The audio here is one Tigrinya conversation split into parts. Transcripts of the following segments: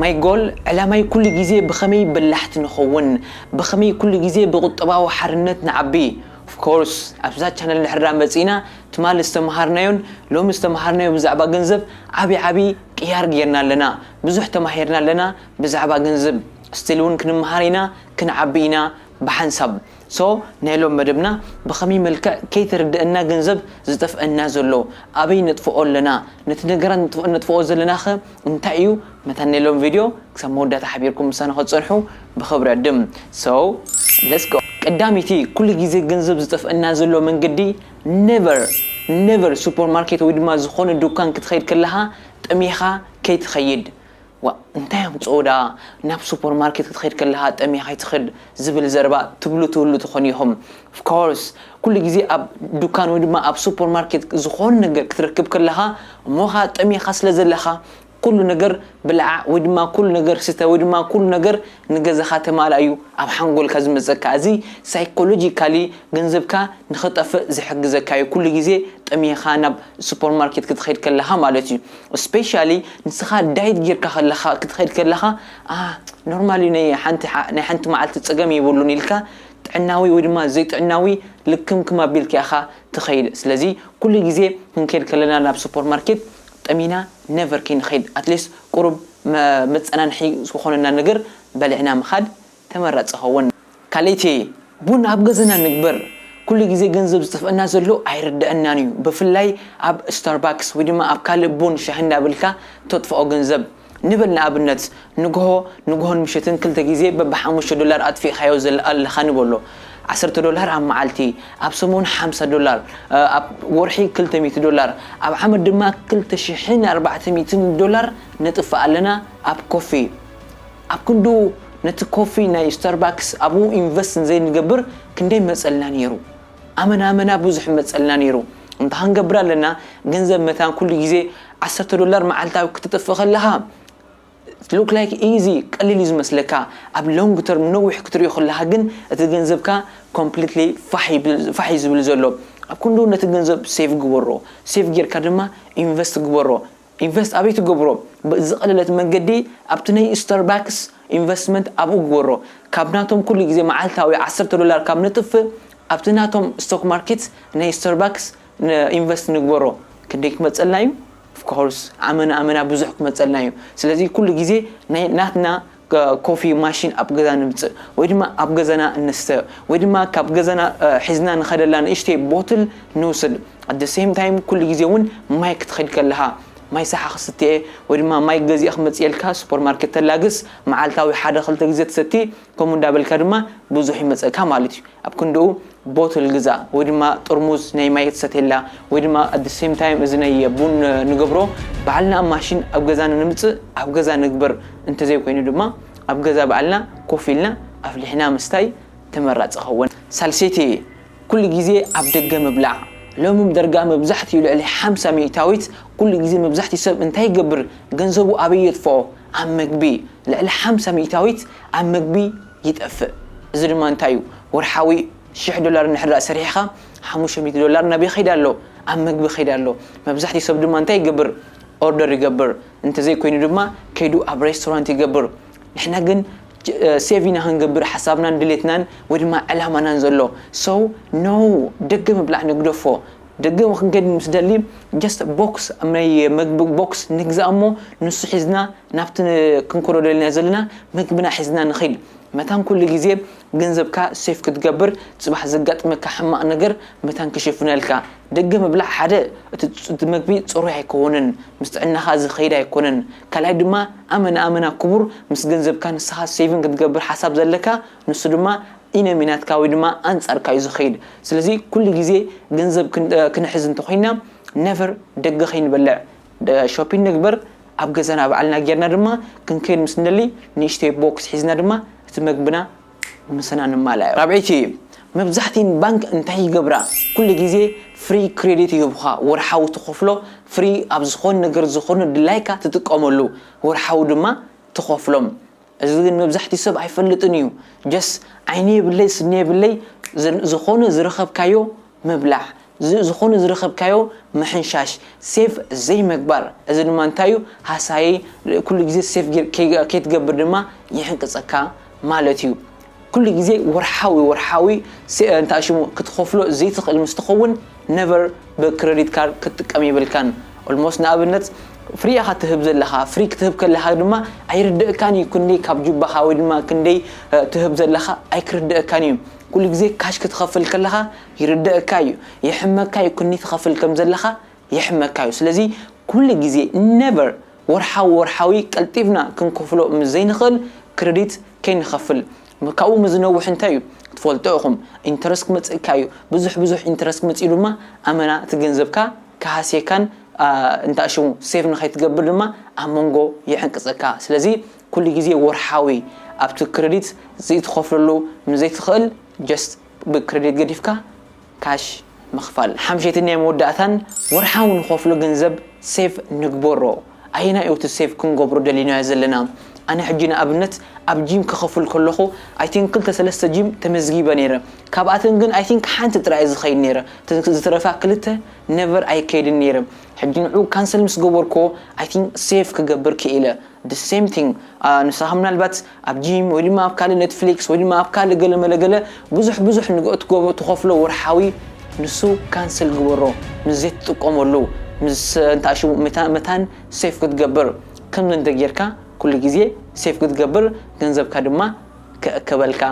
ማይ ጎል ዕላማይ ኩሉ ግዜ ብኸመይ በላሕቲ ንኸውን ብኸመይ ኩሉ ግዜ ብቁጠባዊ ሓርነት ንዓቢ of course ኣብዛ ቻነል ንሕድራ መጺእና ትማሊ ዝተመሃርናዮን ሎሚ ዝተመሃርናዮ ብዛዕባ ገንዘብ ዓቢ ዓቢ ቅያር ጌርና ኣለና ብዙሕ ተማሂርና ኣለና ብዛዕባ ገንዝብ still ውን ክንመሃር ኢና ክንዓቢ ኢና ብሓንሳብ so ናይ ሎም መደብና ብኸመይ መልክዕ ከይተረደእና ገንዘብ ዝጠፍእና ዘሎ ኣበይ ነጥፍኦ ኣለና ነቲ ነገራት ነጥፍኦ ዘለናኸ እንታይ እዩ መታን ናይ ሎሚ ቪድዮ ክሳብ መወዳእታ ሓቢርኩም ምሳና ክትጸንሑ ብኽብሪ ዕድም so let's go ቀዳመይቲ ኩሉ ግዜ ገንዘብ ዝጠፍኣና ዘሎ መንገዲ never never ሱፐር ማርኬት ወይ ድማ ዝኾነ ዱካን ክትኸይድ ከለኻ ጠሚኻ ከይትኸይድ ዋእ እንታይ ኣምጽኦ ደኣ ናብ ሱፐር ማርኬት ክትኸይድ ከለኻ ጠሚኻ ኣይትኽድ ዝብል ዘረባ ትብሉ ትህሉ ትኾኑ ኢኹም። Of course፣ ኩሉ ግዜ ኣብ ዱካን ወይ ድማ ኣብ ሱፐር ማርኬት ዝኾነ ነገር ክትረክብ ከለኻ እሞ ኸኣ ጠሚኻ ስለ ዘለኻ ኩሉ ነገር ብላዕ ወይ ድማ ኩሉ ነገር ስተ ወይ ድማ ኩሉ ነገር ንገዛኻ ተማላእ እዩ ኣብ ሓንጎልካ ዝመጸካ። እዚ Psychologically ገንዘብካ ንኽጠፍእ ዝሕግዘካ እዩ ኩሉ ግዜ ጠሚኻ ናብ ሱፐር ማርኬት ክትኸድ ከለኻ ማለት እዩ። Especially ንስኻ ዳይት ጌርካ ከለኻ ክትኸድ ከለኻ ኣህ ኖርማል እዩ ነይ ሓንቲ ናይ ሓንቲ መዓልቲ ጸገም የብሉን ኢልካ ጥዕናዊ ወይ ድማ ዘይጥዕናዊ ልክምክም ኣቢልካ ኢኻ ትኸይድ ስለዚ ኩሉ ግዜ ክንከይድ ከለና ናብ ሱፐር ማርኬት ጠሚና ነቨር ከይንኸይድ ኣትሊስት ቁሩብ መጸናንሒ ዝኾነና ነገር በሊዕና ምኻድ ተመራጺ ይኸውን። ካልእቲ ቡን ኣብ ገዘና ንግበር ኩሉ ግዜ ገንዘብ ዝጥፍእና ዘሎ ኣይርደኣናን እዩ ብፍላይ ኣብ ስታርባክስ ወይ ድማ ኣብ ካልእ ቡን ሻሂ እንዳበልካ ተጥፍኦ ገንዘብ ንበል ንኣብነት ንግሆ ንግሆን ምሸትን ክልተ ግዜ በብ ሓሙሽተ ዶላር ኣጥፊእካዮ ኣለካ ንበሎ ዓሰርተ ዶላር ኣብ መዓልቲ ኣብ ሰሙን ሓምሳ ዶላር ኣብ ወርሒ ክልተ ሚእቲ ዶላር ኣብ ዓመት ድማ ክልተ ሽሕን ኣርባዕተ ሚእትን ዶላር ነጥፍእ ኣለና ኣብ ኮፊ ኣብ ክንድኡ ነቲ ኮፊ ናይ ስታርባክስ ኣብኡ ኢንቨስት እንዘይንገብር ክንደይ መጸልና ኔሩ ኣመና ኣመና ብዙሕ መጸልና ኔሩ እምበኻ ንገብር ኣለና ገንዘብ መታን ኩሉ ግዜ ዓሰርተ ዶላር መዓልታዊ ክተጥፍእ ከለኻ it look like easy ቀሊል እዩ ዝመስለካ ኣብ long term ነዊሕ ክትሪኦ ከለኻ ግን እቲ ገንዘብካ completely ፋሕ እዩ ዝብል ዘሎ ኣብ ክንድኡ ነቲ ገንዘብ save ግበሮ save ጌርካ ድማ ኢንቨስት ግበሮ ኢንቨስት ኣበይ ትገብሮ ብዝቀለለት መንገዲ ኣብቲ ነይ ስታርባክስ ኢንቨስትመንት ኣብኡ ግበሮ ካብ ናቶም ኩሉ ግዜ መዓልታዊ ዓሰርተ ዶላር ካብ ነጥፍ ኣብቲ ናቶም ስቶክ ማርኪት ነይ ስታርባክስ ኢንቨስት ንግበሮ ክንደይ ክመጸልና እዩ ኦፍኮርስ ኣመና ኣመና ብዙሕ ክመጸልና እዩ ስለዚ ኩሉ ግዜ ነይ ናትና ኮፊ ማሽን ኣብ ገዛ ንምጽእ ወይ ድማ ኣብ ገዛና እንስተ ወይ ድማ ካብ ገዛና ሒዝና ንኸደላ ንእሽተይ ቦትል ንውስድ at the same time ኩሉ ግዜ ውን ማይ ክትኸድ ከለኻ ማይ ሳሓ ክስትየ ወይ ድማ ማይ ገዚኣ ክመጽየልካ ሱፐር ማርኬት ተላግስ መዓልታዊ ሓደ ክልተ ግዜ ትሰቲ ከምኡ እንዳበልካ ድማ ብዙሕ ይመጸካ ማለት እዩ ኣብ ክንድኡ ቦትል ግዛእ ወይ ድማ ጥርሙዝ ናይ ማይ ክትሰትየላ ወይ ድማ ኣት ዘ ሰም ታይም እዚ ናይ ቡን ንገብሮ ባዕልና ኣብ ማሽን ኣብ ገዛና ንምጽእ ኣብ ገዛ ንግበር እንተዘይ ኮይኑ ድማ ኣብ ገዛ ባዕልና ኮፍ ኢልና ኣፍሊሕና ምስታይ ተመራጺ ይኸውን። ሳልሰይቲ ኩሉ ግዜ ኣብ ደገ ምብላዕ ሎሚ ብደርጋ መብዛሕቲኡ ልዕሊ ሓምሳ ሚእታዊት ኩሉ ግዜ መብዛሕቲኡ ሰብ እንታይ ይገብር ገንዘቡ ኣበይ የጥፍኦ ኣብ መግቢ ልዕሊ ሓምሳ ሚእታዊት ኣብ መግቢ ይጠፍእ እዚ ድማ እንታይ እዩ ወርሓዊ ሽሕ ዶላር እንድሕር ሰሪሕኻ ሓሙሽተ ሚእቲ ዶላር ናበይ ይኸይድ ኣሎ ኣብ ምግቢ ይኸይድ ኣሎ መብዛሕትኡ ሰብ ድማ እንታይ ይገብር ኦርደር ይገብር እንተዘይ ኮይኑ ድማ ከይዱ ኣብ ሬስቶራንት ይገብር ንሕና ግን ሴቭ ኢና ክንገብር ሓሳብናን ድሌትናን ወይ ድማ ዕላማናን ዘሎ ሰው ኖው ደገ ምብላዕ ንግደፎ ደገ ክንከይድ ምስ ደሊ ጀስት ቦክስ ኣብ ናይ መግቢ ቦክስ ንግዛእ እሞ ንሱ ሒዝና ናብቲ ክንከዶ ደሊና ዘለና መግብና ሒዝና ንኺድ መታን ኩሉ ግዜ ገንዘብካ ሴፍ ክትገብር ጽባሕ ዘጋጥመካ ሕማቅ ነገር መታን ክሽፍነልካ ደገ ምብላዕ ሓደ እቲ መግቢ ጽሩይ ኣይኮንን ምስ ጥዕናኻ ዝኸይድ ኣይኮነን ካልኣይ ድማ ኣመና ኣመና ኩቡር ምስ ገንዘብካ ንስኻ ሴቪን ክትገብር ሓሳብ ዘለካ ንሱ ድማ ኢነሚናትካ ወይ ድማ ኣንጻርካ እዩ ዝኸይድ ስለዚ ኩሉ ግዜ ገንዘብ ክንሕዝ እንተኾይና never ደገ ከይንበልዕ ሾፒን ንግበር ኣብ ገዛና ባዕልና ጌርና ድማ ክንከይድ ምስ ንደሊ ንእሽተይ ቦክስ ሒዝና ድማ እቲ መግብና ምሰና ንማላእ ራብዐይቲ መብዛሕቲን ባንክ እንታይ ይገብራ ኩሉ ግዜ ፍሪ ክሬዲት ይህቡኻ ወርሓዊ ትኸፍሎ ፍሪ ኣብ ዝኾን ነገር ዝኾን ድላይካ ትጥቀመሉ ወርሓዊ ድማ ትኸፍሎም እዚ ግን መብዛሕትኡ ሰብ ኣይፈልጥን እዩ ጀስ ዓይኒ የብለይ ስኒ የብለይ ዝኾነ ዝረኸብካዮ ምብላዕ ዝኾነ ዝረኸብካዮ ምሕንሻሽ ሴፍ ዘይምግባር እዚ ድማ እንታይ እዩ ሃሳዪ ኩሉ ግዜ ሴፍ ከይትገብር ድማ ይሕንቅፀካ ማለት እዩ ኩሉ ግዜ ወርሓዊ ወርሓዊ እንታይ ሽሙ ክትኸፍሎ ዘይትኽእል ምስ ትኸውን ነቨር ብክረዲት ካርድ ክትጥቀም የብልካን ኦልሞስት ንኣብነት ፍሪ ኢኻ ትህብ ዘለኻ ፍሪ ክትህብ ከለኻ ድማ ኣይርደእካን እዩ ክንደይ ካብ ጁባኻ ወይ ድማ ክንደይ ትህብ ዘለኻ ኣይክርደእካን እዩ ኩሉ ግዜ ካሽ ክትኸፍል ከለኻ ይርደእካ እዩ የሕመካ እዩ ክንደይ ትኸፍል ከም ዘለኻ የሕመካ እዩ ስለዚ ኩሉ ግዜ ነቨር ወርሓዊ ወርሓዊ ቀልጢፍና ክንከፍሎ ምስ ዘይንኽእል ክረዲት ከይንከፍል ካብኡ ምስ ዝነውሕ እንታይ እዩ ትፈልጦ ኢኹም ኢንተረስት ክመጽእ እካ እዩ ብዙሕ ብዙሕ ኢንተረስት ክመጽእ እዩ ድማ ኣመና እቲ ገንዘብካ ክሃስየካን እንታይ ሽሙ ሴቭ ንኸይትገብር ድማ ኣብ መንጎ ይሕንቅጸካ ስለዚ ኩሉ ግዜ ወርሓዊ ኣብቲ ክሬዲት ዘይትኸፍለሉ ምስ ዘይትኽእል ጀስት ብክሬዲት ገዲፍካ ካሽ ምኽፋል ሓምሸይትን ናይ መወዳእታን ወርሓዊ ንኸፍሎ ገንዘብ ሴቭ ንግበሮ ኣየናይ እዩ እቲ ሴቭ ክንገብሮ ደሊናዮ ዘለና ኣነ ሕጂ ንኣብነት ኣብ ጂም ክኸፍል ከለኹ ኣይ ቲንክ ክልተ ሰለስተ ጂም ተመዝጊበ ነይረ ካብኣተን ግን ኣይ ቲንክ ሓንቲ ጥራይ እየ ዝኸይድ ነይረ እተን ዝተረፋ ክልተ ነቨር ኣይከይድን ነይረ ሕጂ ንዑ ካንሰል ምስ ገበርክዎ ኣይ ቲንክ ሴቭ ክገብር ክኢለ the same thing ንስኻ ምናልባት ኣብ ጂም ወይ ድማ ኣብ ካልእ ኔትፍሊክስ ወይ ድማ ኣብ ካልእ ገለ መለ ገለ ብዙሕ ብዙሕ ንግ እትገብሮ ትኸፍሎ ወርሓዊ ንሱ ካንስል ግበሮ ምስ ዘይትጥቀመሉ ምስ እንታ ሽሙ መታ መታን ሴፍ ክትገብር ከምዚ እንተ ጌርካ ኩሉ ግዜ ሴፍ ክትገብር ገንዘብካ ድማ ክእከበልካ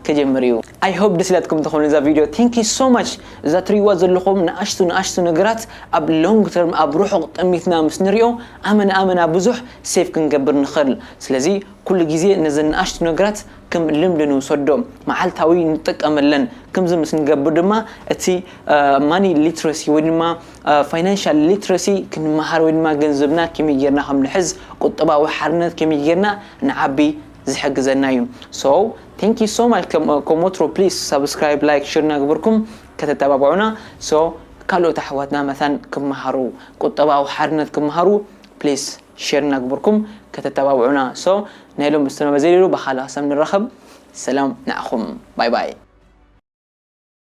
ክጅምር እዩ። ኣይ ሆብ ደስ ኢላትኩም ትኾኑ እዛ ቪድዮ ቴንክ ዩ ሶ ማች እዛ ትርእይዋ ዘለኹም ንኣሽቱ ንኣሽቱ ነገራት ኣብ ሎንግ ተርም ኣብ ርሑቕ ጥሚትና ምስ ንሪኦ ኣመና ኣመና ብዙሕ ሴፍ ክንገብር ንኽእል ስለዚ ኩሉ ግዜ ነዘን ንኣሽቱ ነገራት ከም ልምዲ ንውሰዶ፣ መዓልታዊ ንጠቀመለን። ከምዚ ምስ ንገብር ድማ እቲ ማኒ ሊትረሲ ወይ ድማ ፋይናንሻል ሊትረሲ ክንመሃር ወይ ድማ ገንዘብና ከመይ ጌርና ከም ንሕዝ ቁጠባዊ ሓርነት ከመይ ጌርና ንዓቢ ዝሕግዘና እዩ። So thank you so much ከም ወትሩ please subscribe like share እናገበርኩም ከተተባብዑና so ካልኦት ኣሕዋትና መታን ክመሃሩ ቁጠባዊ ሓርነት ክመሃሩ please። ሼር እናግበርኩም ከተተባብዑና so ናይ ሎሚ ዝስነ በዚ ነይሩ ብካልእ ሃሳብ ንራከብ ሰላም ንዓኩም ባይ ባይ።